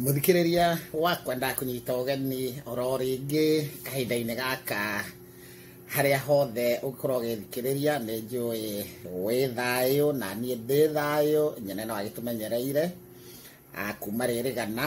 muthikiriria wakwa ndakunyita ũgeni oro rĩngĩ kahinda-inĩ gaka harĩa hothe ũngĩkorwo ũgĩthikĩrĩria nĩ njũĩ wĩ thayũ na niĩ ndĩ thayũ nyene no agĩtũmenyereire kuma rĩrĩgana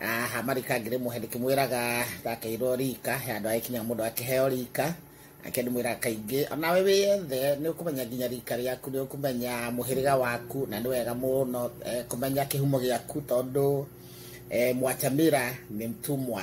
aha marika ngĩrĩmũhe ndĩkĩmwĩraga ndakĩirwo rika he andũ agĩkinya mũndũ akĩheo rika ake ndĩmwĩraga kaingĩ onawe wĩyethe nĩ ũkũmenya nginya rika rĩaku nĩ ũkũmenya mũhĩrĩga waku na nĩ wega mũno eh, kũmenya kĩhumo gĩaku tondũ eh, mwachamĩra nĩ mtumwa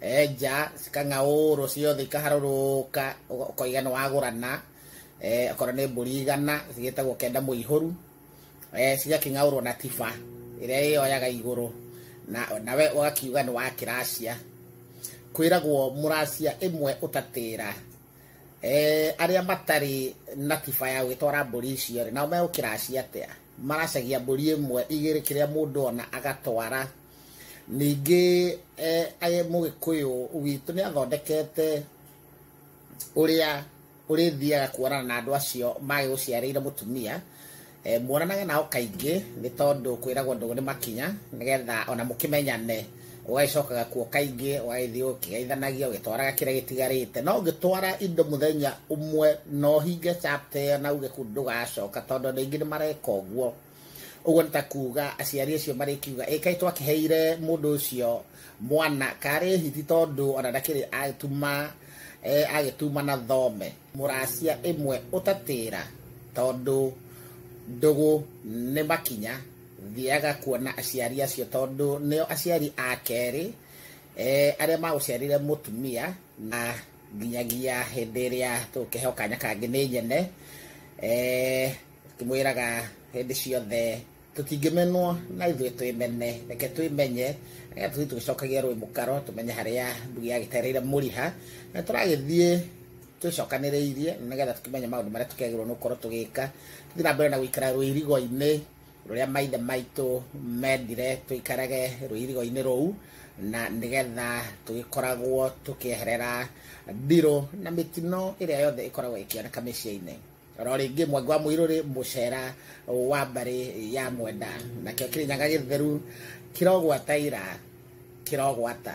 enja cikang'aũrwo ciothe ikaharũrũka ũga- ũkoiga nĩ wagũrana eh, okorwo nĩ mbũri igana cigĩtagwo kenda mũihũru eh, cigakĩng'aũrwo na tiba ĩrĩa ĩyoyaga igũrũ na nawe ũgakiuga nĩ wa kĩracia kwĩragwo mũracia ĩmwe ũtatĩra eh, arĩa matarĩ na tiba ya gwĩtwara mbũri icio rĩ nao megũkĩracia atĩa maracagia mbũri ĩmwe igĩrĩ kĩrĩa mũndũ ona agatwara ningĩ eh, mũgĩkũyũ witũ nĩ athondekete ũrĩa ũrĩthiaga kuonana na andũ acio magĩgũciarĩire mũtumia eh, muonanage nao kaingĩ nĩ tondũ kwĩragwo ndũgũ nĩ makinya nĩgetha ona mũkĩmenyane ũgagĩcokaga kuo kaingĩ ũgagĩthiĩ ũkĩgeithanagia ũgĩtwaraga kĩrĩa gĩtigarĩte no ũngĩtwara indo mũthenya ũmwe no hinge chapter na uge kũu ndũgacoka tondũ andũ aingĩ nĩ mareka ũguo ũguo nĩ ta kuga aciari acio marĩkiuga ĩ kaĩ twakĩheire mũndũ ũcio mwana karĩ hiti tondũ ona ndakĩrĩ atuma e, agĩtuma na thome mũracia ĩmwe ũtatĩra tondũ ndũgũ nĩ makinya thiaga kuona aciari acio tondũ nĩo aciari a kerĩ e, arĩa magũciarire mũtumia na nginyagia hĩndĩ ĩrĩa tũkĩheo kanya kangĩ nĩ nyene e, tũmwĩraga hĩndĩ ciothe tũtingĩmenwo na ithuĩ twĩmene reke twĩmenye reke tũthiĩ tũgĩcokagia rũĩ mũkaro tũmenye harĩa ndugi yagĩtereire mũriha na tũragĩthiĩ twĩcokanĩrĩirie nĩgetha tũkĩmenye maũndũ marĩa tũkĩagĩrĩirwo nĩ gũkorwo tũgĩka tũthiĩ na mbere na gũikara rũirigo-inĩ rũrĩa maithe maitũ mendire tũikarage rũirigo-inĩ rũu na nĩgetha tũgĩkoragwo tũkĩeherera ndirũ na mĩtino ĩrĩa yothe ĩkoragwo ĩkĩoneka mĩciĩ-inĩ ro rĩngĩ mwanga wa mũirũ rĩ mũcera wa mbarĩ ya mwenda nakĩo kĩrĩnyaga gĩtheru kĩrogwata ira kĩrogwata